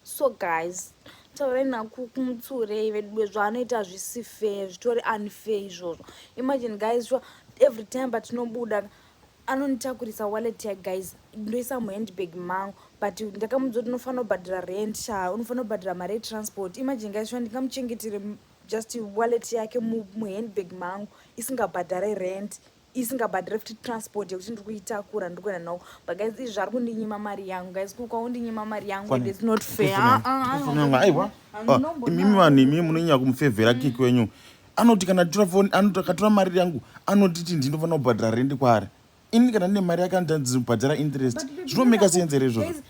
so guys taurai nakumutsurei veduwe zvaanoita hazvisi fair zvitori unfair izvozvo imagine guys sure every time patinobuda anonitakurisa wallet ya guys ndoisa muhandbag mangu but ndakamuudza kuti unofanira kubhadhira rent sha unofanira kubhadhira mari yetransport imagine guys sure ndingamuchengetire just wallet yake muhandbag mangu isingabhadhare rent isingabhadhire futi transport yekuti ndiri kuitakura ndiri kuenda navo but guys izvi zvari kundinyima mari yangu guys kuka undinyima mari yangu and it's not fair ah, ah, ah, aiwa imimi vanhu imimi munonyanya kumufevhera kiki wenyu anoti kana tora foni anoti akatora mari yangu anotiti ndinofanira kubhadhara rendi kwaari ini kana ndine mari yake anotandizibhadhara interest zvinomeka seenzereizvozvo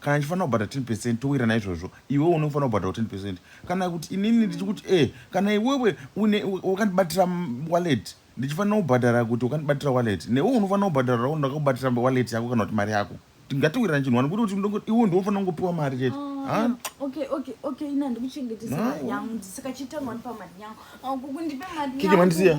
kana ndichifanira kubhadhara 10 percent towira naizvozvo iwe unofanira kubhadhara 10 percent kana kuti inini ndichikuti e kana iwewe wakandibatira wallet ndichifanira kubhadhara kuti wakandibatira wallet newe unofanira kubhadharawo ndakakubatira wallet yako kana kuti mari yako tingatowirirana chinhu wani kuti kuti iwe ndiofanira kungopiwa mari chete ah, kikimandisiya